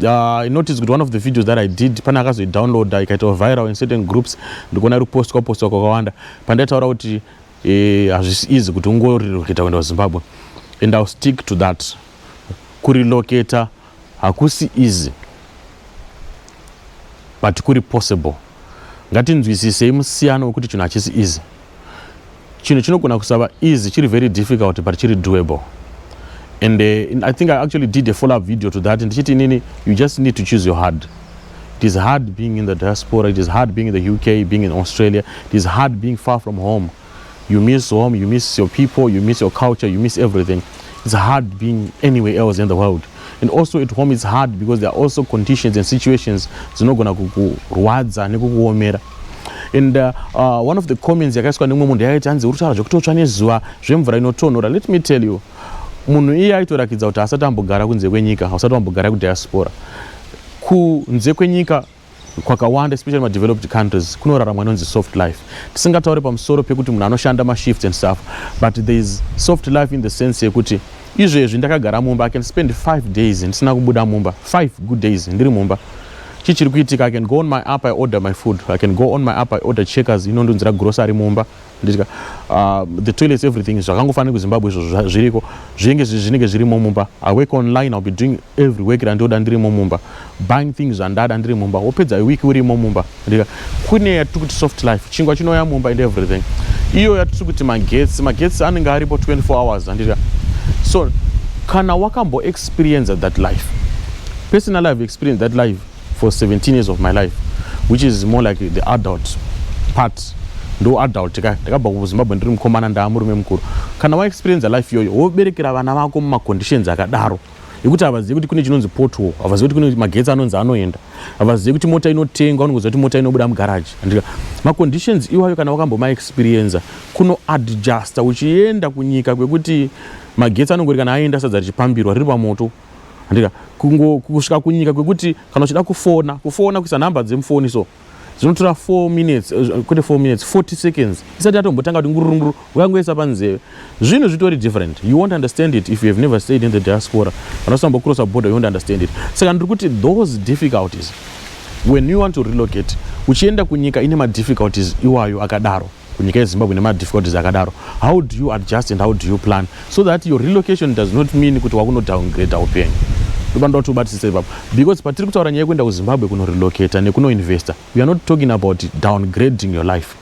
Uh, notice kuti one of the videos that i did pane akazoidownloada ikaitawo viral in certain groups ndikuona iri postwa postwa kwakawanda pandaitaura kuti eh, hazvisi eh, easy kuti ungorelocata kuenda kuzimbabwe and ill stick to that kurelocata hakusi easy but kuri possible Ngatinzwisisei musiyano wekuti chinhu hachisi easy. Chinhu chinogona kusava easy chiri very difficult but chiri doable. And uh, I think I actually did a follow up video to that ndichiti inini you just need to choose your hard. It is hard being in the diaspora, it is hard being in the UK, being in Australia, it is hard being far from home. You miss home, you miss your people, you miss your culture, you miss everything. It's hard being anywhere else in the world. And also at home it's hard because there are also conditions and situations dzinogona kukurwadza nekukuomera. And uh, uh, one of the comments yakaiswa nemumwe munhu yakaiti hanzi uri kutaura zvekutotsva nezuva zvemvura inotonhora. Let me tell you, munhu iye aitorakidza kuti haasati ambogara kunze kwenyika, hausati wambogara kudiaspora. Kunze kwenyika Kwakawanda especially ma developed countries kunoraramwa inonzi soft life. Tisingataure pamusoro pekuti munhu anoshanda ma shifts and stuff but there is soft life in the sense yekuti izvezvi ndakagara mumba I can spend 5 days ndisina kubuda mumba 5 good days ndiri mumba chii chiri kuitika I can go on my app I order my food I can go on my app I order checkers inondunzira grocery mumba nditya uh, the toilets everything zvakangofanira kuzimbabwe izvozvo zviriko zvinenge zvinenge zvirimo mumba i work online ill be doing every work randioda ndirimo mumba buying things zvandada ndiri mumba wopedza iweek urimo mumba ndika kune yatiri kuti soft life chingwa chinouya mumba and everything iyo yatiri kuti magetsi magetsi anenge aripo 24 hours andika so kana wakamboexperienza that life personal life experience that life for 17 years of my life which is more like the adult part ndo adult ka ndakabva kuzimbabwe ndiri mukomana ndaa murume mukuru kana waexperienza life iyoyo woberekera vana vako mumaconditions akadaro ekuti havazivi kuti kune chinonzi potwo havazivi kuti kune magetsi anonzi anoenda havazivi kuti mota inotengwa unongoziva kuti mota inobuda mugaraji andika maconditions iwayo kana wakambomaexperienza kuno adjusta uchienda kunyika kwekuti magetsi anongori kana aenda sadza richipambirwa riri pamoto handika kungo kusvika kunyika kwekuti kana uchida kufona kufona kuisa nhamba dzemufoni so zvinotora 4 minutes eh, kwete 4 minutes 40 seconds isati yatombotanga kuti ngurunguru ukangoisa panzeve zvinhu zvitori different you won't understand it if you have never stayed in the diaspora kana usamba crossa border you won't understand it saka ndiri kuti those difficulties when you want to relocate uchienda kunyika ine madifficulties iwayo akadaro kunyika yezimbabwe nemadifficulties akadaro how do you adjust and how do you plan so that your relocation does not mean kuti wakunodowngrade upenyu ndopanoda kuti ubatisise ipapo because patiri kutaura nyaya yekuenda kuzimbabwe kunorelocata nekunoinvesta weare not talking about downgrading your life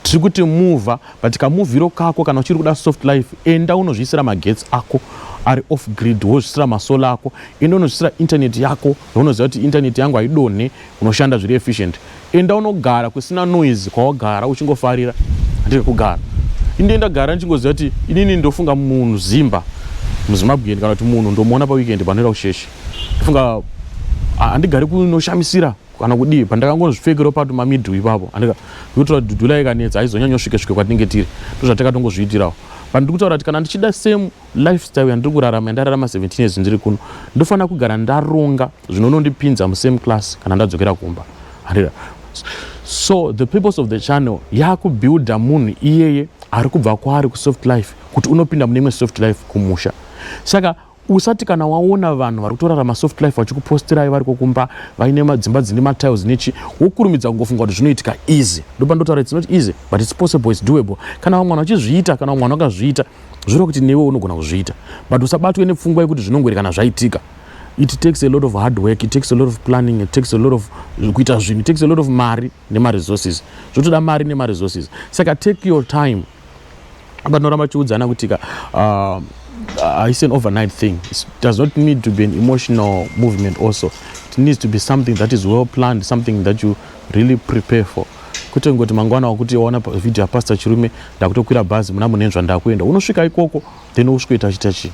tiri kuti muva but kamuvhiro kako kana uchiri kuda soft life enda unozviisira magetsi ako ari off grid wozvisira masola ako enda unozvisira internet yako yaunoziva kuti internet yangu haidonhe unoshanda zviri efficient enda unogara kusina noise kwawagara uchingofarira handiri kugara inde ndagara ndichingoziva kuti inini ndofunga munhu zimba muzimbabwean kana kuti munhu ndomuona paweekend panoenda kusheshe ndofunga handigari kunoshamisira kana kudii pandakangonozvipfekero pato mamidhu ipapo andika ndokutora dhudhula ikanetsa aizonyanyosvike svike kwatinenge tiri ndozvatakatongozviitirawo pandiri kutaura kuti kana ndichida same Lifestyle yandiri kurarama yandararama 17 years ndiri kuno ndofanira kugara ndaronga zvinonondipinza musame class kana ndadzokera kumba handira so the purpose of the channel yakubuilda munhu iyeye ari kubva kwaari kusoft life kuti unopinda mune imwe soft life kumusha saka usati kana waona vanhu vari kutorarama soft life vachikupostirai vari kokumba vaine madzimba dzine matiles nechi wokurumidza kungofunga kuti zvinoitika easy ndopandotaura its not easy but its possible its doable kana vamwana vachizviita kana vamwana vakazviita zvinoreva kuti newe unogona kuzviita but usabatwe nepfungwa yekuti zvinongoerekana zvaitika it takes a lot of hard work it takes a lot of planning it takes a lot of kuita zvinhu it takes a lot of mari nemaresources zvotoda mari nemaresources saka take your time vanoramba vachiudzana kutika uh, uh, it's an overnight thing it does not need to be an emotional movement also it needs to be something that is well planned something that you Really prepare for kwete ngoti mangwana wakuti waona video yaPastor Chirume ndakutokwira bhazi muna Munenzva ndakuenda unosvika ikoko then usvikoita achita chii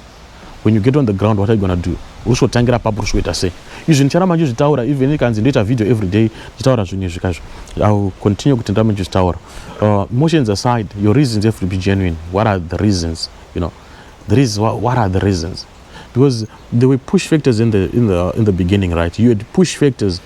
when you get on the ground what are you gonna do usvikotangira papo usvikoita sei izvi ndichara manje zvitaura even ikanzi ndoita video every day ndichitaura zvinhu izvi kazvo iwill continue kuti ndamanje zvitaura uh, motions aside your reasons have to be genuine what are the reasons you know there is what, what are the reasons because there were push factors in the, in the, in the beginning right you had push factors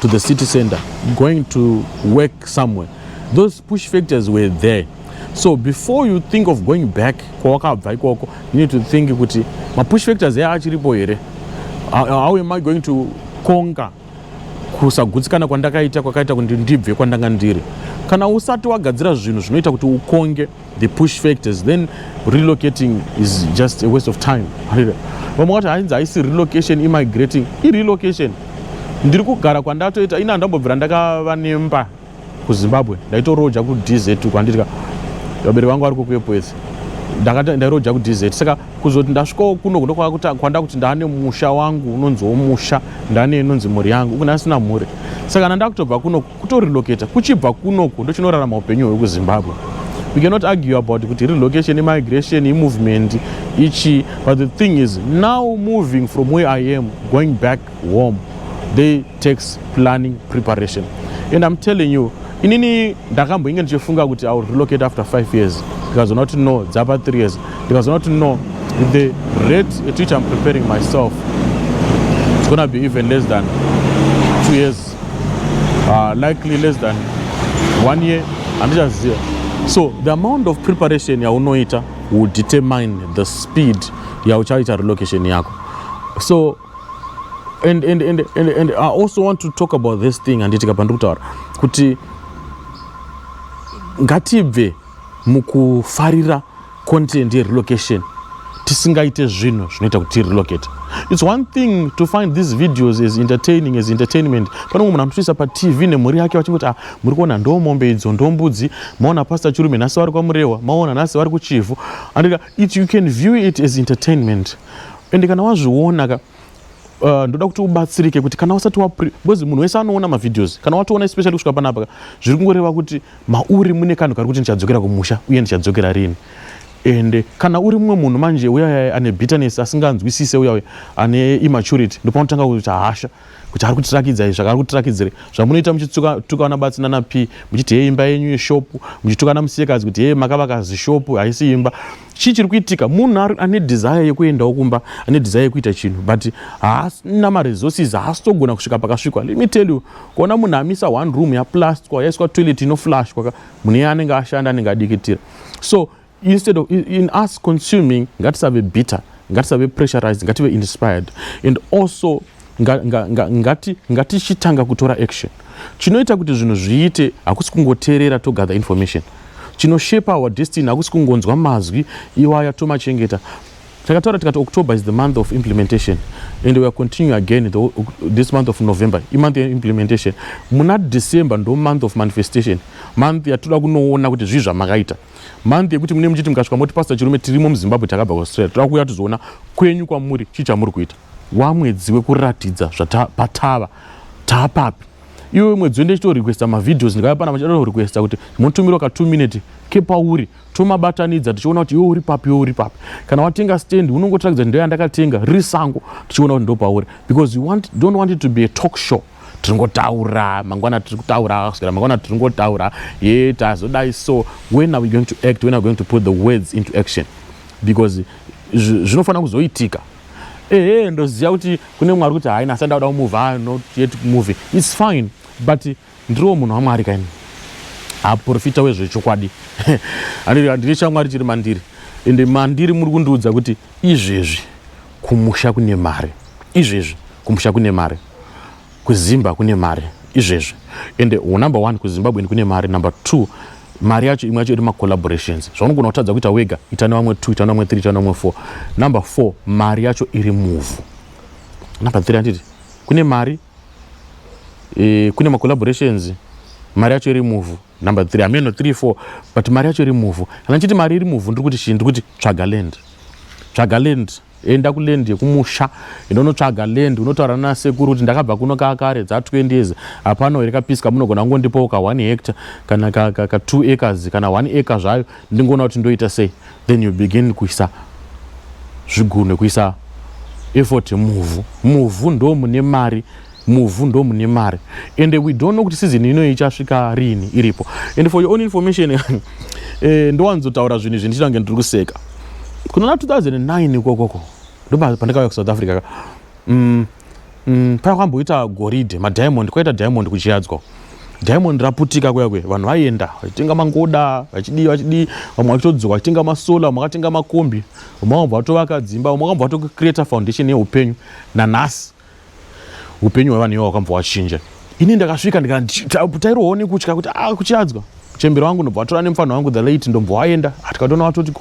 to the city center going to work somewhere those push factors were there so before you think of going back kwawakabva ikoko you need to think kuti mapush factors aya achiripo here how am i going to conquer kusagutsikana kwandakaita kwakaita kuti ndibve kwandanga ndiri kana usati wagadzira zvinhu zvinoita kuti ukonge the push factors then relocating is just a waste of time vamwe vati hainzi haisi relocation immigrating irelocation ndiri kugara kwandatoita ini handambobvira ndakava nemba kuzimbabwe ndaitoroja kudz kwandiri ka vabereki vangu vari kukuepoese ndairoja kudz saka kuzoti ndasvikawo kuno kuno kwanda kuti ndane musha wangu unonziwo musha ndane inonzi mhuri yangu uku ndasina mhuri saka kana ndakutobva kunoku kutorelocator kuchibva kunoku ndochinorarama upenyu hwekuzimbabwe we cannot argue about kuti relocation imigration imovement ichi but the thing is now moving from where i am going back home they takes planning preparation and i'm telling you inini ndakamboinge ndichifunga kuti iwill relocate after five years ndikazoona kuti no dzapa three years ndikazoona kuti no with the rate at which i'm preparing myself it's gonna be even less than two years uh, likely less than one year handichaziva so the amount of preparation yaunoita will determine the speed yauchaita relocation yako so and, and, and, and, and i also want to talk about this thing handiti kapa ndikutaura kuti ngatibve mukufarira content yerelocation tisingaite zvinhu zvinoita kuti tirelocate its one thing to find these videos as entertaining as entertainment pane umwe munhu anotoisa patv nemhuri yake vachingoti ah muri kuona ndo mombe idzo ndo mbudzi maona pastor chirume nhasi vari kwamurehwa maona nhasi vari kuchivhu andika it you can view it as entertainment ende kana wazviona ka Uh, ndoda kuti ubatsirike kuti kana usati because munhu wese anoona mavideos kana watoona especially kusvika panapa zviri kungoreva kuti mauri mune kanhu kari kuti ndichadzokera kumusha uye ndichadzokera rini ende kana uri mumwe munhu manje uyaya ane bitterness asinganzwisise uyauya ane immaturity ndopanotanga kuita hasha kuti ari kutirakidza izvi zvakaari kutirakidzire zvamunoita muchitukana batsi nana p muchiti hei imba yenyu yeshopu muchitukana musikadzi kuti hei makavaka zishopu haisi imba chii chiri kuitika munhu ane desire yekuendawo kumba ane desire yekuita chinhu but haasina maresources haasitogona kusvika pakasvikwa let me tell you kuona munhu amisa one room yaplastic yaiswa toilet inoflash kwaka munhu iye anenge ashanda anenge adikitira so instead of in us consuming ngatisave bitter ngatisave pressurized ngative inspired and also nga, nga, nga, ngati ngatichitanga kutora action chinoita kuti zvinhu zviite hakusi kungoteerera togather information chinoshape our destiny hakusi kungonzwa mazwi iwaya tomachengeta takataura tikati october is the month of implementation and weare continue again the, this month of november imonth yeimplementation muna december ndo month of manifestation month yatoda kunoona kuti zvii zvamakaita month yekuti mune muchiti mukasvika moti pastor chirume tirimo muzimbabwe takabva kuaustralia toda kuuya tizoona kwenyu kwamuri chii chamuri kuita Waa mwedzi wekuratidza zvata patava taapapi iwe mwedzi wende chito requesta mavideos ndikaya pana machito requesta kuti motumiro ka 2 minute kepauri tomabatanidza tichiona kuti iwe uri papi iwe uri papi kana watenga stand unongotirakidza ndo yandakatenga riri sango tichiona kuti ndo pauri because you want, don't want it to be a talk show tiringotaura mangwana tiri kutaura kusvikira mangwana tiringotaura ye tazodai so when are we going to act when are we going to put the words into action because zvinofanira kuzoitika ehe ndoziva kuti kune mwari kuti haina asi ndauda kumove ah, not yet move its fine but ndiriwo munhu wamwari kaini aporofita wezvechokwadi handiri chamwari chiri mandiri ende mandiri muri kundiudza kuti izvezvi kumusha kune mari izvezvi kumusha kune mari Kuzimba kune mari izvezvi ende number one kuzimbabwe kune mari number two mari yacho imwe yacho iri macollaborations zvaunogona kutadza kuita wega ita nevamwe two ita nevamwe three ita nevamwe four number four mari yacho iri muvhu number three anditi kune mari e, kune macollaborations mari yacho iri muvhu number three hameno three four but mari yacho iri muvhu kana ndichiti mari iri muvhu ndiri kuti chii ndiri kuti tsvaga land tsvaga land enda kuland yekumusha indonotsvaga land unotaura nasekuru kuti ndakabva kuno kakare dza 20 years hapana here kapisika munogona kungondipawo ka 1 hectare kana ka, ka, ka 2 acres kana 1 acre zvayo ndingoona kuti ndoita sei then you begin kuisa zvigunwe kuisa effort muvhu muvhu ndo mune mari Muvhu ndomune mari and we don't know kuti season ino ichasvika rini iripo and for your own information eh, ndowanzotaura zvinhu izvi ndichitange ndiri kuseka kunona 2009 ikokoko ndopandikauya kusouth africa ka mm, mm, paya kwamboita goridhe madiamond kwaita diamond kuchiyadzwa diamond raputika kuya kuya vanhu vaienda vachitenga mangoda vachidii vachidii vamwe vachitodzoka vachitenga masola vamwe vakatenga makombi vamwe vambva vatovaka dzimba vamwe vambva vatocreata foundation yeupenyu nanhasi upenyu hwevanhu ivo hwakambva hwachinja ini ndakasvika ndikatairowo nekutya kuti a ah, kuchiadzwa chembere wangu ndobva vatora nemufana wangu the late ndombva waenda ah, tikatoona vatoti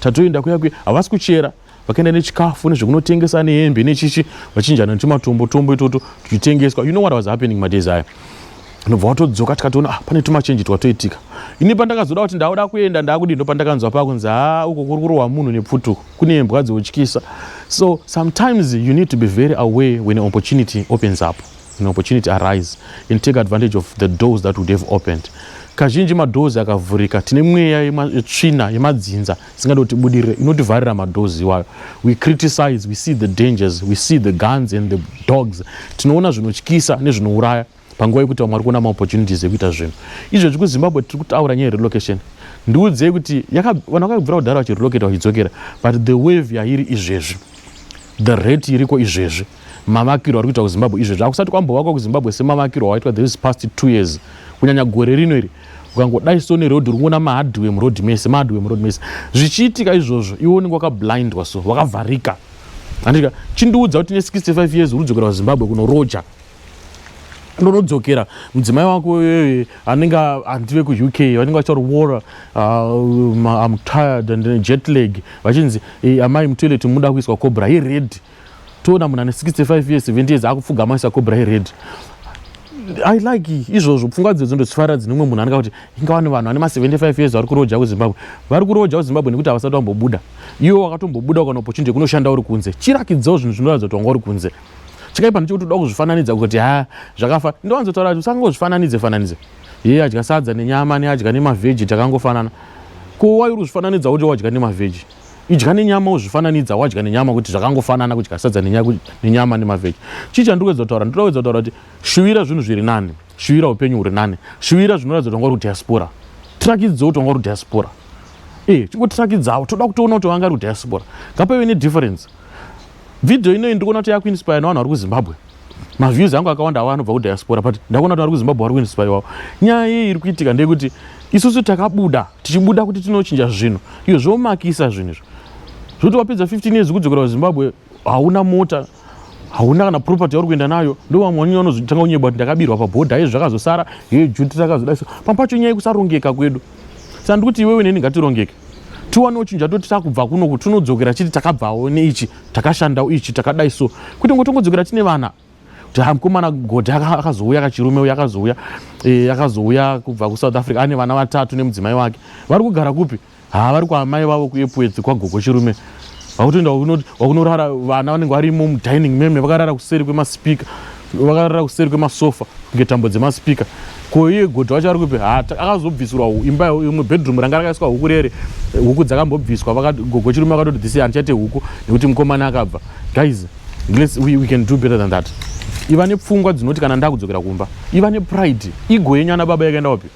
tatoenda kuya kuya havasi kuchera vakaenda nechikafu nezvekunotengesa nehembe nechichi vachinjana nechimatombo tombo itoto tichitengeswa you know what was happening madays aya ndobva watodzoka tikatoona ah, pane tumachenji twatoitika ini pandakazoda kuti ndauda kuenda ndakudii ndo pandakanzwa pakunzi haa uko kuri kurohwa munhu nepfutuko kune mbwa dzoutyisa so sometimes you need to be very aware when an opportunity opens up an opportunity arise and take advantage of the doors that would have opened kazhinji madoors akavhurika tine mweya yetsvina yemadzinza isingadi kuti budirire inotivharira madoors iwayo we criticize we see the dangers we see the guns and the dogs tinoona zvinotyisa nezvinouraya panguva yekuti vamwe vari kuona maopportunities ekuita zvinhu izvezvi kuzimbabwe tiri kutaura nyaya yerelocation ndiudzei kuti vanhu vakabvira kudhara vachirelocata vachidzokera but the wave yairi izvezvi the rate iriko izvezvi mavakirwo ari kuitwa kuzimbabwe izvezvi akusati kwambovakwa kuzimbabwe semavakirwo awaitwa this past two years kunyanya gore rino iri ukangodai so neroad uri kuona mahardway muroad mese mahardway muroad mese zvichiitika izvozvo iwe unenge wakablindwa so wakavharika andika chindiudza kuti ne 65 years uri kudzokera kuzimbabwe kunoroja ndonodzokera mudzimai wako eh, anenge handive kuuk vanenge vacharwora ah, um, am tired and eh, jet leg vachinzi eh, amai mutoilet muda kuiswa cobra yered toona munhu ane 65 years 70 years akupfugama isa cobra yered i like izvozvo pfungwa dzedzo ndodzifarira dzine umwe munhu anenge kuti ingava nevanhu ane ma75 years vari kuroja kuzimbabwe vari kuroja kuzimbabwe nekuti havasati vambobuda iwo wakatombobuda ukana opportunity yekunoshanda uri kunze chirakidzawo zvinhu zvinoratidza kuti wanga uri kunze chakaipa ndechekuti uda kuzvifananidza kuti ha zvakafa ndowanzotaura kuti usangozvifananidze fananidze iye adya sadza nenyama neadya nemavheji takangofanana ko wai uri kuzvifananidza uti wadya nemavheji idya nenyama uzvifananidza wadya nenyama kuti zvakangofanana kudya sadza nenyama nemavheji chii chandiri kuedza kutaura ndoda kuedza kutaura kuti shuvira zvinhu zviri nani shuvira upenyu huri nani shuvira zvinoratidza kuti wanga uri kudiaspora tirakidze kuti wanga uri kudiaspora e eh, chingotirakidzavo toda kutoona kuti wanga uri kudiaspora ngapaive nedifference Video inoyi ndikuona kuti yakuinspire navanhu vari kuZimbabwe. Maviews angu akawanda awa anobva kudiaspora but ndakuona kuti vari kuZimbabwe vari kuinspire wavo. Nyaya iyi iri kuitika ndeyekuti isusu takabuda tichibuda kuti tinochinja zvinhu iyo zvomakisa zvinhu izvo zvoti wapedza 15 years kudzokera kuZimbabwe hauna mota hauna kana property yauri kuenda nayo ndo vamwe vanyanya vanozotanga kunyeba kuti ndakabirwa pabhodha izvi zvakazosara ye juti takazodaiso pamwe pacho nyaya yekusarongeka kwedu saka ndikuti iwewe neni ngatirongeke tiwanewo chinhu chatoti takubva kuno kuti tinodzokera chiti takabvawo neichi takashandawo ichi takadai so kuti ngo tongodzokera tine vana kuti ha mukomana godhi akazouya kachirume uya akazouya eh, akazouya kubva kusouth africa ane vana vatatu nemudzimai wake vari kugara kupi ha vari kwaamai vavo kuepwedzi kwagogo chirume vakutoenda wakunorara vana vanenge varimo mudining meme vakarara kuseri kwemaspika vakarara kuseri kwemasofa kunge tambo dzemaspika ko iye godha wacho ari kupi ha akazobvisirwa imba imwe bedroom ranga rakaiswa huku rere huku dzakambobviswa gogo chirume vakatoti this handichaite huku nekuti mukomana akabva guys let's, we, we can do better than that iva nepfungwa dzinoti kana ndakudzokera kumba iva nepride igo yenyu ana baba yakaenda wapi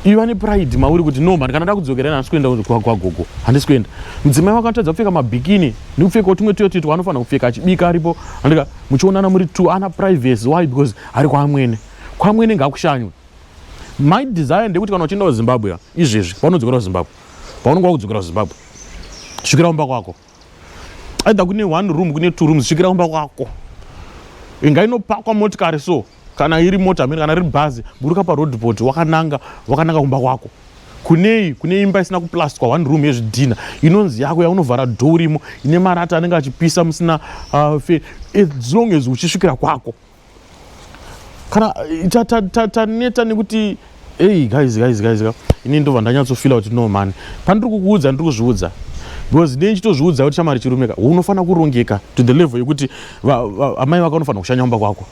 iva nepride mauri kuti no mani kana ndakudzokera ina handisi kuenda kwagogo handisi kuenda mudzimai wako anotadza kupfeka mabhikini nekupfekawo tumwe tuyo tuitwa anofanira kupfeka achibika aripo andika muchionana muri two ana privacy why because ari kwaamwene kwaamwene ngakushanywe my desire ndekuti kana uchienda kuzimbabwe izvezvi paunodzokera kuzimbabwe paunenge wakudzokera kuzimbabwe svikira kumba kwako either kune one room kune two rooms svikira kumba kwako inga inopakwa motikari so kana iri mota amene kana riri bhazi buruka paroadport wakananga wakananga kumba kwako kunei kune imba isina kuplastwa one room yezvidhina inonzi yako yaunovhara dho urimo ine marata anenge achipisa musina uh, fe as long as uchisvikira kwako kana taneta nekuti ei guys guys guys ini ndobva ndanyatsofila kuti no mani pandiri kukuudza ndiri kuzviudza because ndine chitozviudza kuti chamari chirumeka unofanira kurongeka to the level yekuti amai vako unofanira kushanya umba kwako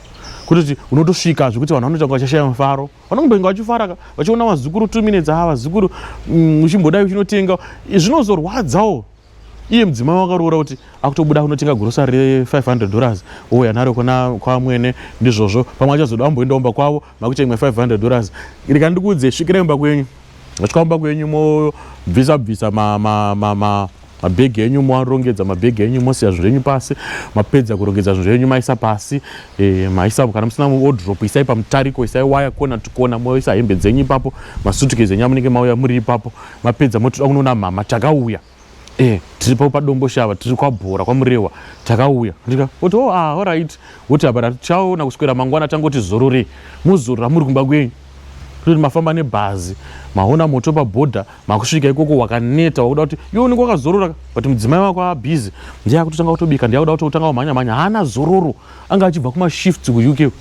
kutoti unotosvika zvekuti vanhu vanoita vachashaya mufaro vanongobenga vachifara vachiona vazukuru two minutes haa vazukuru mm, uchimbodai uchinotenga zvinozorwadzawo iye mudzimai wakaroora kuti akutobuda kunotenga grosari re500 dollars ouya naro kuna kwamwene ndizvozvo pamwe achazoda amboenda umba kwavo makuita imwe 500 dollars rika ndikuudze svikira imba kwenyu vasvika umba kwenyu mobvisa bvisa ma, ma, ma, ma mabhegi enyu moarongedza mabhegi enyu mosiya zvinhu zvenyu pasi mapedza kurongedza zvinhu zvenyu maisa pasi e, maisa kana musina wodrop isai pamutariko isai waya kona tikona moisa hembe dzenyu ipapo masutukezi enyu amunenge mauya muri ipapo mapedza moti toda kunoona mhama takauya eh tiripo padombo shava tiri kwabhora kwamurewa takauya ndika oti oh ah alright woti apa tachaona kuswera mangwana tangoti zorore muzorora muri kumba kwenyu kuti mafamba nebhazi maona moto pabhodha makusvika ikoko wakaneta wakuda kuti iwe unenge wakazorora but mudzimai wako abhizi ndiye akutotanga kutobika ndiye akuda kuti utanga kumhanya mhanya haana zororo anga achibva kumashifts kuuk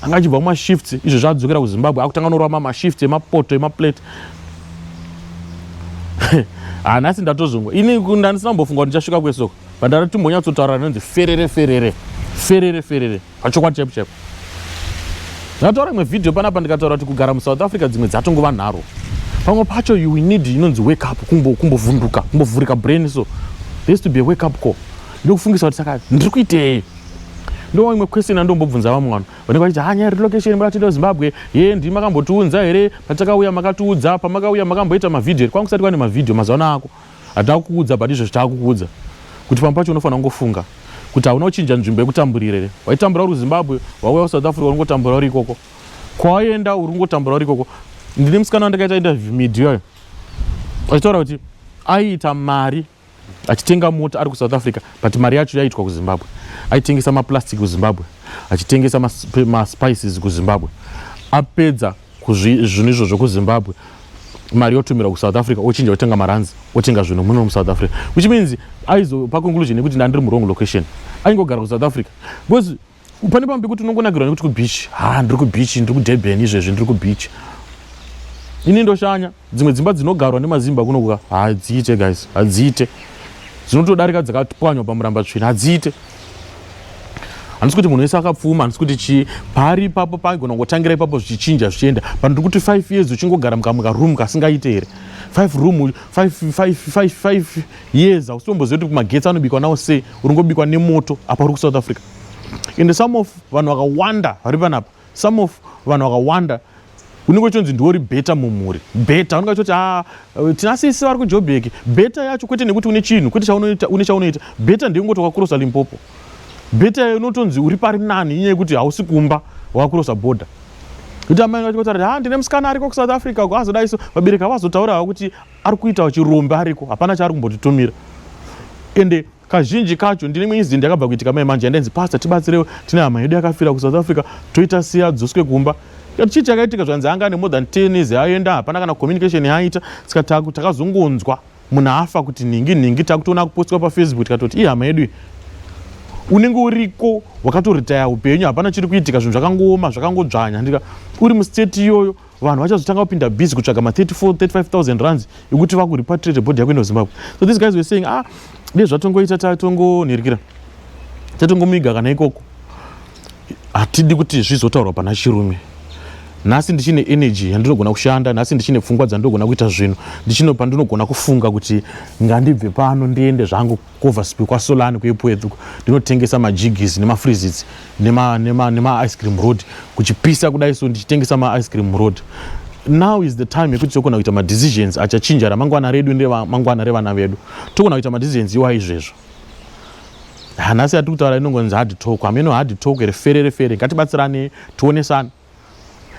anga achibva kumashifts izvo zvaadzokera kuzimbabwe akutanga norova mashifts emapoto emaplate hanasi ndatozongwa ini ndandisina kumbofunga kuti ndichasvika kwesoko but ndati timbonyatsotaura rinonzi ferere ferere ferere ferere pachokwadi chaipo chaipo ndataura imwe vhidhiyo panapa ndikataura kuti kugara musouth africa dzimwe dzatongova nharo pamwe pacho you need inonzi wake up kumbovhunduka kumbovhurika brain so there's to be a wake up call ndokufungisa kuti saka ndiri kuitei ndo imwe question andombobvunza vamwe vanhu vanenge vachiti ha nyaya relocation makatienda kuzimbabwe ye ndii makambotiunza here patakauya makatiudza pamakauya makamboita mavhidhio here kwanga kusati kwane mavhidhio mazano ako hatina kukuudza but izvo zvitaakukuudza kuti pamwe pacho unofanira kungofunga kuti hauna kuchinja nzvimbo yekutamburira here waitambura uri kuzimbabwe wauya kusouth africa uringotambura uri ikoko kwawaenda uri kungotambura uri ikoko ndine musikana wandakaita interview midioyo achitaura kuti aiita mari achitenga mota ari kusouth africa but mari yacho yaiitwa kuzimbabwe aitengesa maplastic kuzimbabwe achitengesa maspices kuzimbabwe apedza kuzvinhu izvo zvokuzimbabwe mari yotumira kusouth africa ochinja otenga maranzi otenga zvinhu muno musouth africa which means aizopa conclusion yekuti ndandiri murong location aingogara kusouth africa because pane pamwe pekuti unongonakirwa nekuti kubeach ha ndiri kubeach ndiri kudurban izvezvi ndiri kubeach ini ndoshanya dzimwe dzimba dzinogarwa nemazimba kunokuka hadziite guys hadziite dzinotodarika dzakapwanywa pamuramba tsvina hadziite handisi kuti munhu wese akapfuma handisi kuti chii paari ipapo paigona kungotangira ipapo zvichichinja zvichienda but ndiri kuti five years uchingogara mukamwe karoom kasingaite here five room five, five, five, five, yes hausi tomboziva kuti magetsi anobikwa nawo sei uringobikwa nemoto apa uri kusouth africa ende some of vanhu vakawanda vari panapa some of vanhu vakawanda unenge uchinzi ndiwo uri beta mumhuri beta unenge uchitoti ah, eh, tina sisi vari kujobheki beta yacho kwete nekuti une chinhu kwete chaunoita une chaunoita beta ndeyekungoti wakurosa limpopo beta unotonzi uri pari nani inyaya yekuti hausi kumba wakurosa border kuti amai vacho kuti ha ah, ndine musikana ariko kusouth africa ko azodaiso vabereki avazotaurawo kuti ari kuitawo chirombe ariko hapana chaari kumbotitumira ende kazhinji kacho ndine imwe incident yakabva kuitika mai manje yandainzi pastor tibatsirewo tine hama yedu yakafira kusouth africa toita siya dzoswe kumba tikati chii chakaitika zvanzi anga ane more than ten years ayoenda hapana kana communication yaaita saka takazongonzwa munhu afa kuti nhingi nhingi takutoona kupostwa pafacebook tikatoti ii hama yedu iyi unenge uriko wakatoritaya upenyu hapana chiri kuitika zvinhu zvakangooma zvakangodzvanya ndika uri mustate iyoyo vanhu vachazotanga kupinda busy kutsvaga ma 34 35000 rands ekuti vakuripatrate body yako ino zimbabwe so these guys were saying ah dei zvatongoita tatongonhirikira tatongomiga kana ikoko hatidi kuti zvizotaurwa pana chirume nhasi ndichine energy yandinogona kushanda nhasi ndichine pfungwa dzandinogona kuita zvinhu ndichine pandinogona kufunga kuti ngandibve pano ndiende zvangu kuoverspew kwasolani kuepwethu ndinotengesa majigis nemafreezits nemaice cream road kuchipisa kudai so ndichitengesa maice cream road now is the time yekuti tokona kuita madecisions achachinja ramangwana redu neremangwana revana vedu tokona kuita madecisions iwa izvezvo hanasi yatiri kutaura inongonzi hard talk hameno hard talk here ferere fere ngatibatsirane tionesane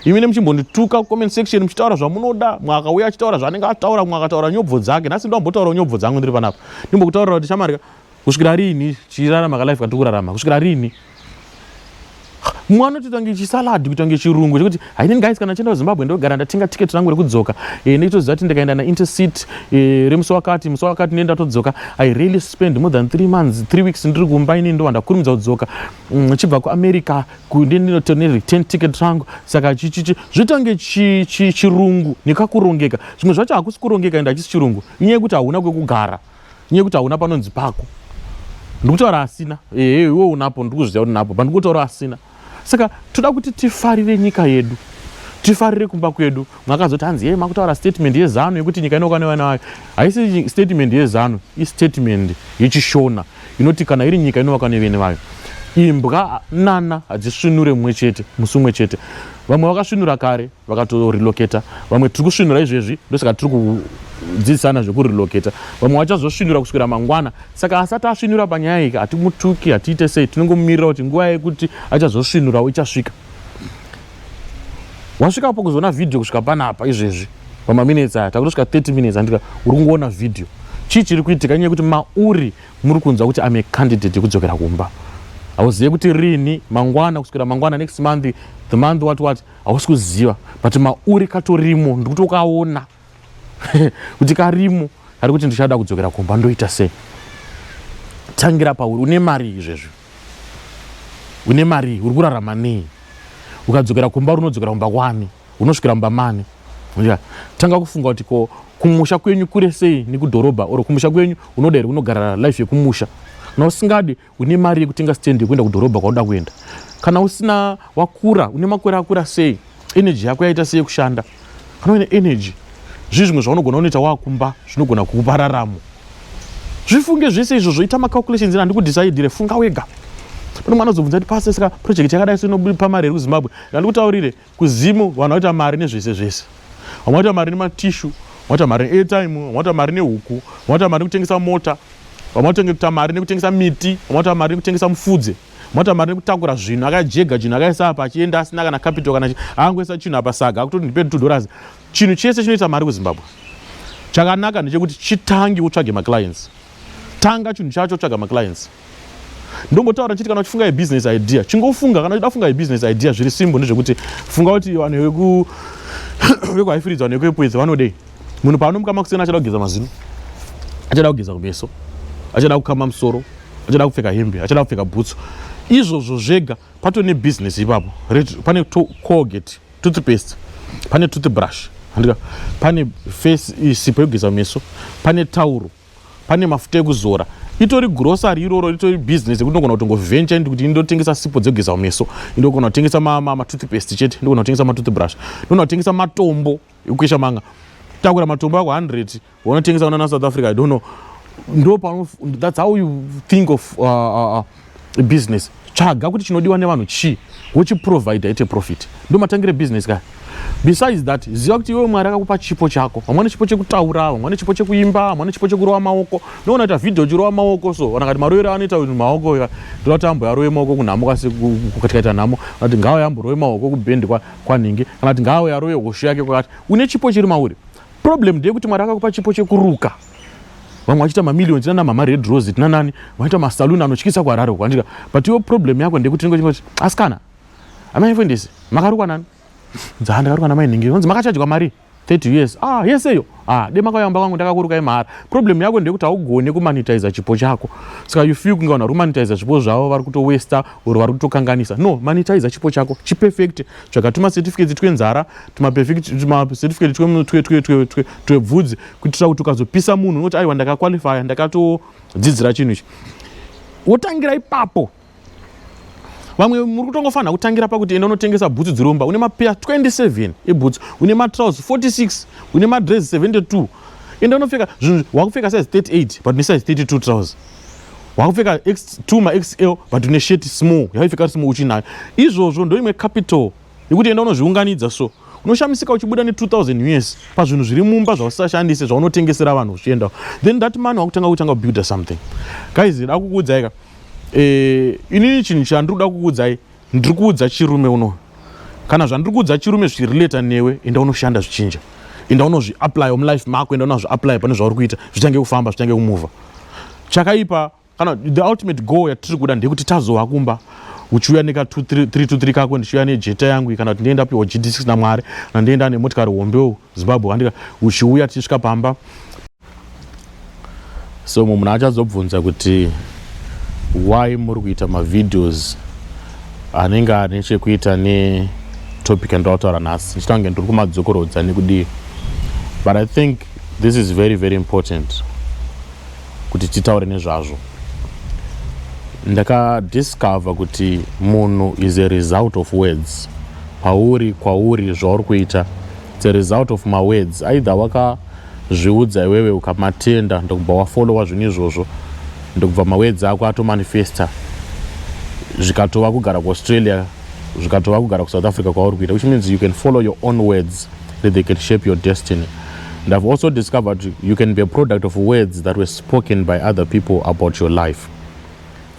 imine muchimbondituka comment section muchitaura zvamunoda mwakauya achitaura zvaanenge ataura mwe akataura nyobvo dzake nhasi ndombotaura nyobvo dzangu ndiri panapa ndimbokutaurira kuti chamarika kusvikira rini tichirarama kalife katiri kurarama kusvikira rini mwana toita kunge chisalad kuita kunge chirungu chekuti hainini guys kana chienda kuzimbabwe ndogara ndatenga ticket rangu rekudzoka e, eh, nekitoziva kuti ndikaenda naintercit e, eh, remusi wakati musi wakati neni ndatodzoka i really spend more than three months three weeks ndiri kumba inini ndovandakurumidza kudzoka mm, chibva kuamerica kundi ndinoto ne return ticket rangu saka chichichi zvitange chirungu nekakurongeka zvimwe zvacho hakusi kurongeka ende hachisi chirungu inyaya yekuti hauna kwekugara inyaya yekuti hauna panonzi pako ndikutaura asina ehe iwe unapo ndikuzviziva kuti napo but ndikutaura asina saka toda kuti tifarire nyika yedu tifarire kumba kwedu makazoti hanzi yei makutaura statement yezanu yekuti nyika inokwana vana vayo haisi statement yezanu istatement yechishona inoti kana iri nyika inovakwa nevene vayo imbwa nana hadzisvinure mumwe chete musi umwe chete vamwe vakasvinura kare vakatorelocata vamwe tiri kusvinura izvezvi ndosaka tiri kudzidzisana zvekurelocata vamwe vachazosvinura kuswira mangwana saka asati asvinura panyaya yika hatimutuki hatiite sei tinongomumirira kuti nguva yekuti achazosvinurawo ichasvika wasvikapo kuzoona video kusvika panapa izvezvi pamaminutes aya takutosvika 30 minutes andika uri kungoona video chii chiri kuitika nyaya yekuti mauri muri kunzwa kuti ame candidate yekudzokera kumba hauzive kuti rini mangwana kusvikira mangwana next month the month what what hausi kuziva but mauri katorimo ndikuti ukaona kuti karimo kari kuti ndichada kudzokera kumba ndoita sei tangira pauri une mari izvezvi une mari uri kurarama nei ukadzokera kumba uri unodzokera kumba kwani unosvikira mumba mani tanga kufunga kuti ko kumusha kwenyu kure sei nekudhorobha or kumusha kwenyu unoda here kunogara life yekumusha kana usingadi Une mari yekutenga stand yekuenda kudhorobha kwauda kuenda? Kana usina wakura, une makore akura sei? Energy yako yaita sei kushanda? Kana uine energy, zvii zvimwe zvaunogona unoita wakumba zvinogona kukupa raramo? Zvifunge zvese izvo zvoita macalculations ina ndikudhisaidhire, funga wega. Pane mwana azobvunza kuti pase saka project yakadai so inobupa mari here kuZimbabwe? Ndandikutaurire, KuZim vanhu vaita mari nezvese zvese. Vamwe vaita mari nematishu, vamwe vaita mari neairtime, vamwe vaita mari nehuku, vamwe vaita mari nekutengesa mota, vamwe vaita mari nekutengesa miti, vamwe vaita mari nekutengesa mufudze, vamwe vaita mari nekutakura zvinhu akajega chinhu akaisa apa achienda asina kana capital kana angoisa chinhu apa saga akuti ndipe two dollars. Chinhu chese chinoita mari kuZimbabwe. Chakanaka ndechekuti chitange utsvage maclients. Tanga chinhu chacho tsvaga maclients. Ndombotaura chiti kana uchifunga yebusiness idea, chingofunga kana uchida kufunga yebusiness idea zviri simbo ndezvekuti funga kuti vanhu veku vekuhaifiridzwa vanhu vekuepwedzi vanodei. Munhu paanomuka makuseni achada kugeza mazino, achada kugeza kumeso, achada kukama musoro, achada kupfeka hembe, achada kupfeka bhutsu. Izvozvo zvega patone business ipapo. Pane colgate toothpaste pane toothbrush handika pane face isipo yekugeza meso pane tauro pane mafuta ekuzora itori grocery iroro ritori business yekuti ndogona kutongoventure ndi kuti ndotengesa sipo dzekugeza meso ndogona kutengesa matoothpaste chete ndogona kutengesa matoothbrush ndogona kutengesa matombo ekukwesha manga takura matombo ako 100 Wanotengesa unana South Africa, I don't know. Ndo pano, that's how you think of uh, uh, uh business. Tsvaga kuti chinodiwa nevanhu chii, wochiprovider ite profit. Ndo matangire business kaya. Besides that, ziva kuti iwe Mwari akakupa chipo chako. Vamwe vane chipo chekutaura, vamwe vane chipo chekuimba, vamwe vane chipo chekurova maoko. No unoita video uchirova maoko so, kana kuti maroero anoita kuti maoko ika, ndoda kuti ambo yarove maoko kunhamo kasi kukatikaita nhamo, kana kuti ngawo yambo rove maoko kubend kwa, kwanhingi, kana kuti ngawo yarove hosho yake kwakati. Une chipo chiri mauri. problem ndeyekuti mwari akakupa chipo chekuruka vamwe vachita mamillion tinana mama red rose tinanani vaita masaluni anotyisa kuharare uko andika but yo problem yako ndekuti tinenge tingoti asikana amai fendisi makarukwa nani dzaa ndakarukwa namai nhingi vanzi makachajwa mari 30 years ah yese iyo ah de makayamba kwangu ndakakurukai mahara problem yako ndeyekuti haugone kumanitiza chipo chako saka you feel kunge vanhu vari kumanitiza zvipo zvavo vari kutowesta or vari kutokanganisa no manitiza chipo chako chiperfect tsvaka tumacertificates twenzara tumacertificate twebvudzi kuitira kuti ukazopisa munhu unoti aiwa ndakaqualifya ndakatodzidzira chinhu ichi wotangira ipapo vamwe muri kutongofanira kutangira pakuti enda unotengesa bhutsu dziromba une mapeya 27 ebhutsu une matrouse 46 une madres 72 enda unopfeka zvinhu wakupfeka size 38 but une size 32 trouse wakupfeka x2 maxl but une sheti small yaipfeka ri small uchinayo izvozvo ndoimwe capital nekuti enda unozviunganidza so unoshamisika uchibuda ne 2000 us pazvinhu zviri mumba zvausashandise zvaunotengesera vanhu uchiendawo then that man wakutanga kutanga kubuilda something guys da kukuudzai ka e, inini chinhu chandiri kuda kukuudzai ndiri kuudza chirume uno kana zvandiri kuudza chirume zvichirelata newe enda unoshanda zvichinja enda unozviapply mulife mako enda unazviapply pane zvauri kuita zvichange kufamba zvichange kumuvha chakaipa kana the ultimate goal yatiri kuda ndeyekuti tazowa kumba uchiuya neka 323 kako ndichiuya nejeta yangu kana kuti ndienda piwa gd6 namwari kana ndienda nemotikari hombe zimbabwe andika uchiuya tichisvika pamba so mumwe munhu achazobvunza kuti why muri kuita mavideos anenge ane chekuita netopic andinotaura nhasi ndichita kunge ndiri kumadzokorodza nekudii but i think this is very very important kuti titaure nezvazvo ndakadiscover kuti munhu is a result of words pauri kwauri zvauri kuita its a result of mawords aidha wakazviudza iwewe ukamatenda ndokubva wafollowa zvinhu izvozvo ndokubva mawords ako atomanifesta zvikatova kugara kuaustralia zvikatova kugara kusouth africa kwauri kuita which means you can follow your own words that they can shape your destiny and i've also discovered you can be a product of words that were spoken by other people about your life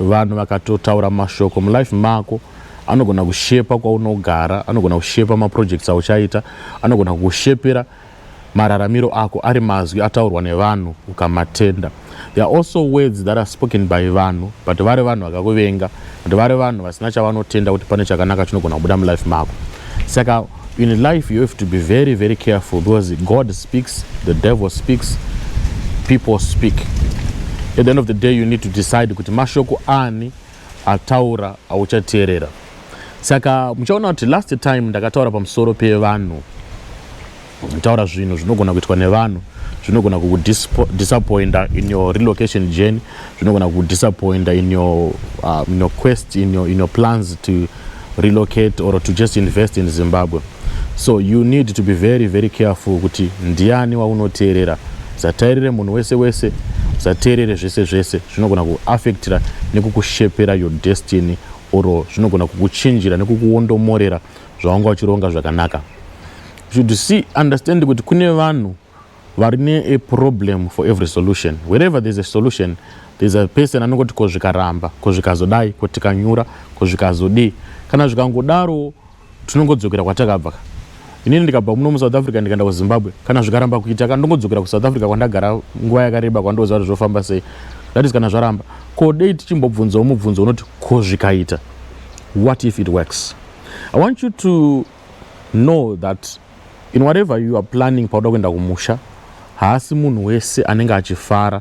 vanhu vakatotaura mashoko mulife mako anogona kushepa kwaunogara anogona kushepa maprojects auchaita anogona kukushepera mararamiro ako ari mazwi ataurwa nevanhu ukamatenda There are also words that are spoken by vanhu but vari vanhu vakakuvenga but vari vanhu vasina chavanotenda kuti pane chakanaka chinogona kubuda mulife mako saka in life you have to be very very careful because god speaks the devil speaks people speak at the end of the day you need to decide kuti mashoko ani ataura auchateerera saka muchaona kuti last time ndakataura pamusoro pevanhu Taura zvinhu zvinogona kuitwa nevanhu zvinogona kukudisappointa in your relocation journey zvinogona kukudisappointa in your, uh, in your quest in your, in your plans to relocate or to just invest in zimbabwe so you need to be very very careful kuti ndiani waunoteerera zatairire munhu wese wese zvateerere zvese zvese zvinogona kuaffectira nekukushepera your destiny or zvinogona kukuchinjira nekukuondomorera zvawanga uchironga zvakanaka should see understand kuti kune vanhu vari ne a problem for every solution wherever there's a solution there's a person anongoti ko zvikaramba ko zvikazodai ko tikanyura ko zvikazodii kana zvikangodaro tinongodzokera kwatakabva inini ndikabva muno musouth africa ndikaenda kuzimbabwe kana zvikaramba kuita ka ndongodzokera kusouth africa kwandagara nguva yakareba kwandoziva kuti zvofamba sei that is kana zvaramba ko dei tichimbobvunzawo mubvunzo unoti ko zvikaita what if it works I want you to know that in whatever you are planning pauda kuenda kumusha haasi munhu wese anenge achifara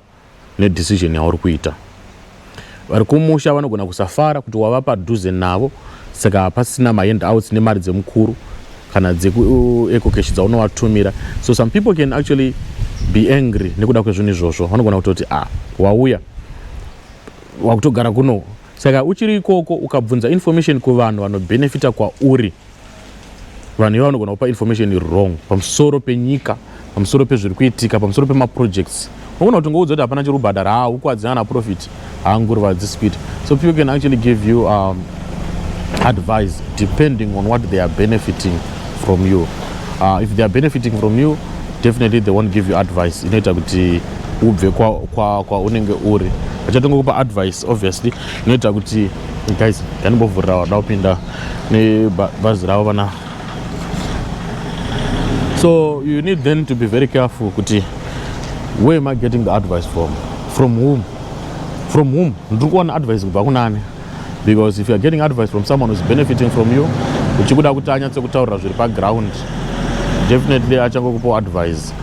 nedecision yauri kuita vari kumusha vanogona kusafara kuti wava padhuze navo saka hapasina maend outs nemari dzemukuru kana dzekuecocash uh, dzaunovatumira so some people can actually be angry nekuda kwezvinhu izvozvo vanogona kutoti a ah, wauya wakutogara kuno Saka uchiri ikoko ukabvunza information kuvanhu vanobenefita kwauri, vanhu ivo vanogona kupa information wrong pamusoro penyika, pamusoro pezviri kuitika, pamusoro pemaprojects. Unogona kuti ngoudza kuti hapana chiri kubhadhara, haa ukwadzi ana profit, haa nguruva hadzisi kuita. So people can actually give you um, advice depending on what they are benefiting from you. Uh, if they are benefiting from you, definitely they won't give you advice inoita kuti ubve kwaunenge kwa, kwa uri vachatonga kupa advice obviously inoita kuti guys yanimbovhurira vada kupinda nebhazi ravo vana so you need then to be very careful kuti where am i getting the advice from from whom from whom ndiri kuwana advice kubva kunani because if youare getting advice from someone whois benefiting from you uchikuda kuti anyatse kutaurira zviri paground definitely achangokupawo advice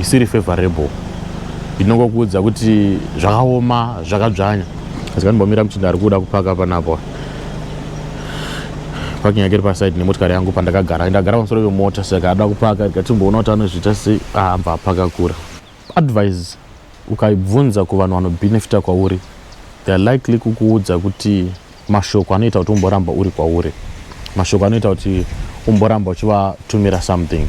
isiri favorable inongokuudza kuti zvakaoma zvakadzvanya asi kanimbomira muchinda ari kuda kupaka panapo parking yake iri paside nemotokari yangu pandakagara ndagara pamusoro vemota saka ada kupaka ndikatimboona kuti anozviita sei aambva ah, apaka kura Advice ukaibvunza kuvanhu vano benefita kwauri they are likely kukuudza kuti mashoko anoita kuti umboramba uri kwauri, mashoko anoita kuti umboramba uchivatumira something.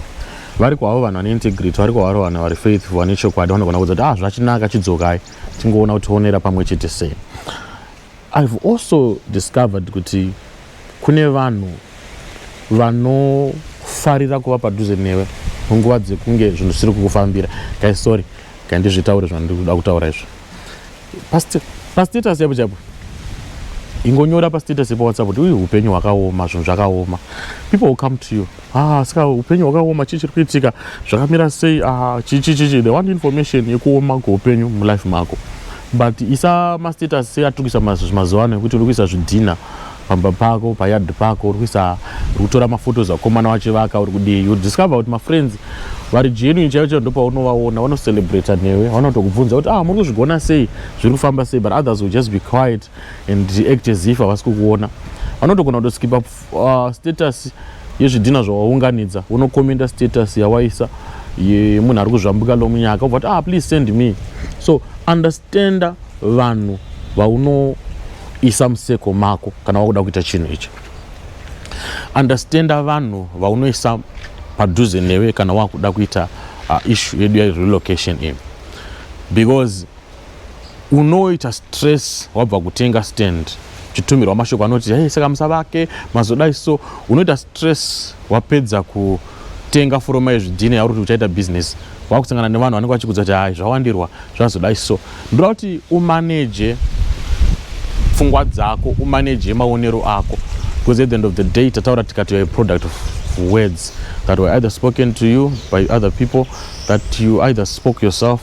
Vari kwavo vanhu vane integrity, vari kwavari vanhu vari faithful, vane chokwadi vanogona kuudza kuti ah zvachinaka chidzokai tingoona kuti toonera pamwe chete sei. I've also discovered kuti kune vanhu vanofarira kuva padhuze newe munguva dzekunge zvinhu zvisiri kukufambira kai sorry kai ndizvitaure zvandiri kuda kutaura izvo pastatus chaipo chaipo ingonyora pastatus ipo whatsapp kuti uyu upenyu hwakaoma zvinhu zvakaoma people will come to you Ah, saka upenyu hwakaoma chii chiri kuitika zvakamira sei ah, chichi chichi the one information yekuoma kweupenyu mulife mako but isa mastatus seatukisa mazuva ano ekuti uri kuisa zvidhina pamba pako payard pako uri kuisa uri kutora mafotos akomana wachivaka uri kudii you discover kuti mafriends vari genuine chaivo chaivo ndopaunovaona vanocelebrata newe vanotokubvunza kuti ah muri kuzvigona sei zviri kufamba sei but others will just be quiet and act as if havasi kukuona vanotogona kutoskipa Uh, status yezvidhina zvawaunganidza unokomenda status yawaisa yemunhu ari kuzvambuka lomunyaka ubva kuti ah please send me so understanda vanhu vaunoisa museko mako kana wakuda kuita chinhu icho understanda vanhu vaunoisa padhuze newe kana wakuda kuita uh, issue yedu yarelocation in because unoita stress wabva kutenga stand chitumirwa mashoko anoti hey, saka musavake mazodai so unoita stress wapedza kutenga furoma yezvidhina yauri kuti uchaita business wakusangana nevanhu vanenge vachikudza kuti hai zvawandirwa zvazodai so ndoda kuti umaneje pfungwa dzako umaneje maonero ako because at the end of the day tataura tikati youare product of words that were either spoken to you by other people that you either spoke yourself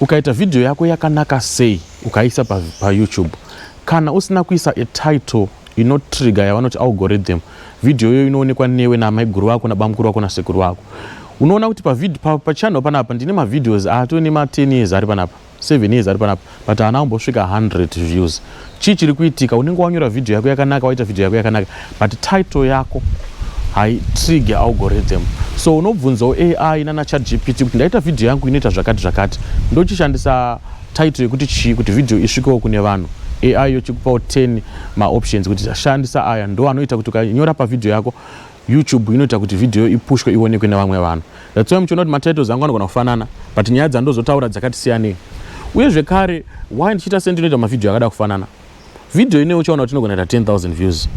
Ukaita video yako yakanaka sei ukaisa pa, pa YouTube kana usina kuisa a title inotrigger yavanoti algorithm video iyoyo inoonekwa newe namaiguru vako nabamukuru vako nasekuru vako unoona kuti pachannel pa, pa panapa ndine mavideos atove nema 10 years ari panapa 7 years ari panapa but haana kumbosvika 100 views chii chiri kuitika unenge wanyora video yako yakanaka waita video yako yakanaka but title yako haitrigger algorithm so unobvunzawo ai nana chat gpt kuti ndaita video yangu inoita zvakati zvakati ndochishandisa title yekuti chii kuti video isvikewo kune vanhu ai yochikupawo 10 maoptions kuti shandisa aya ndo anoita kuti ukanyora pavideo yako YouTube inoita kuti video ipushwe ionekwe nevamwe vanhu. That's why muchiona kuti matitles angu anogona kufanana but nyaya dzandozotaura dzakati siyanei. Uye zvekare why ndichiita sendinoita mavideo akada kufanana. Video ine uchaona kuti inogona kuita 10,000 views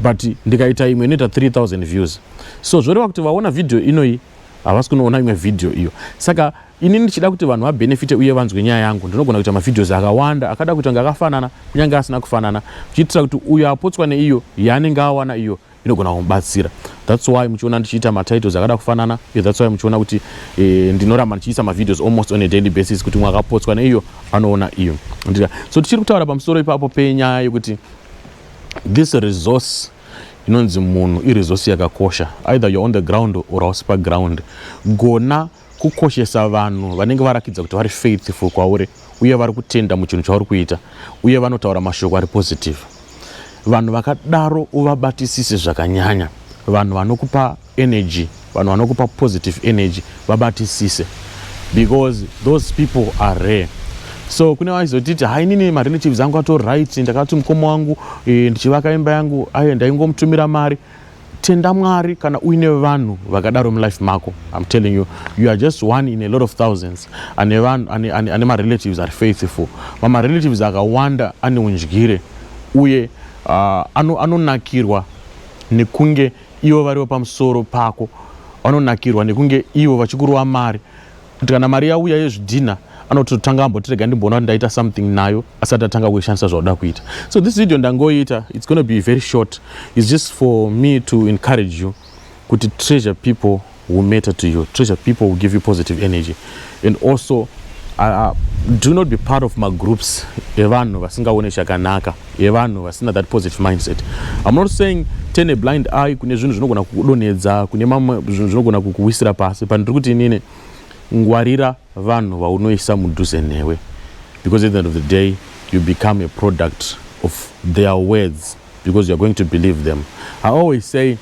but ndikaita imwe inoita 3,000 views. So zvoreva kuti vaona video inoi havasi kunoona imwe video iyo. Saka ini ndichida kuti vanhu vabenefite uye vanzwe nyaya yangu ndinogona kuita mavideos akawanda akada kuita kunge akafanana kunyange asina kufanana kuchiitira kuti uyo apotswa neiyo yaanenge awana iyo inogona kumubatsira thats why muchiona ndichiita matitles akada kufanana iyo thats why muchiona kuti e, ndinoramba ndichiisa mavideos almost on a daily basis kuti mwakapotswa neiyo anoona iyo ndika so tichiri kutaura pamusoro ipapo penyaya yekuti this resource inonzi munhu iresource yakakosha either you're on the ground or hausi paground gona Kukoshesa vanhu vanenge varakidza kuti vari faithful kwauri uye vari kutenda muchinhu chauri kuita uye vanotaura mashoko ari positive. Vanhu vakadaro uvabatisise zvakanyanya. Vanhu vanokupa energy, vanhu vanokupa positive energy vabatisise because those people are rare. So kune vaizotiti hai inini marelatives angu atori right, ndakati mukoma wangu e, ndichivaka imba yangu aye ndaingomutumira mari tenda mwari kana uine vanhu vakadaro mulife mako im telling you you are just one in a lot of thousands ane vanhu ane, ane, ane marelatives ari faithful mamarelatives akawanda ane undyire uye uh, anonakirwa ano nekunge ivo varivo pamusoro pako vanonakirwa nekunge ivo vachikurova mari Kuti kana mari yauya yezvidhinha anoti totanga ambotirega ndimboona kuti ndaita something nayo asati atanga kuishandisa zvauda kuita so this video ndangoita it's gonna be very short it's just for me to encourage you kuti treasure people who matter to you treasure people who give you positive energy and also uh, uh do not be part of magroups evanhu vasingaone chakanaka yevanhu vasina that positive mindset I'm not saying turn a blind eye kune zvinhu zvinogona kukudonhedza kune mamwe zvinhu zvinogona kukuwisira pasi but ndiri kuti inini ngwarira vanhu vaunoisa mudhuze newe because at the end of the day you become a product of their words because you're going to believe them I always say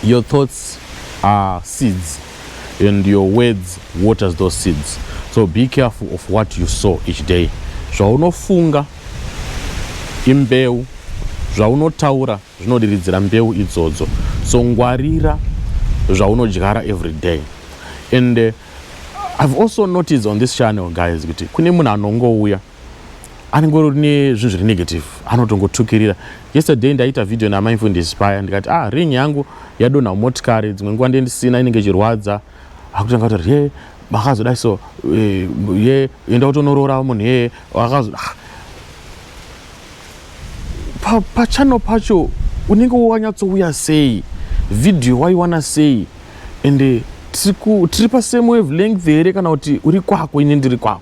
your thoughts are seeds and your words waters those seeds so be careful of what you saw each day zvaunofunga imbeu zvaunotaura zvinodiridzira mbeu idzodzo so ngwarira zvaunodyara every day and uh, i've also noticed on this channel guys kuti kune munhu anongouya anenge uri nezvinhu zviri negative anotongotukirira yesterday ndaita video naamai mfundisi paya ndikati ah ring yangu yadonha motikari dzimwe nguva ndendisina inenge ichirwadza akutanga kuti ye makazodai so eh, ye enda utonoroora munhu yeye akazo ah. pa, pachano pacho unenge wanyatsouya sei video waiwana sei ende tiri pasame wave length here kana kuti uri kwako ini ndiri kwako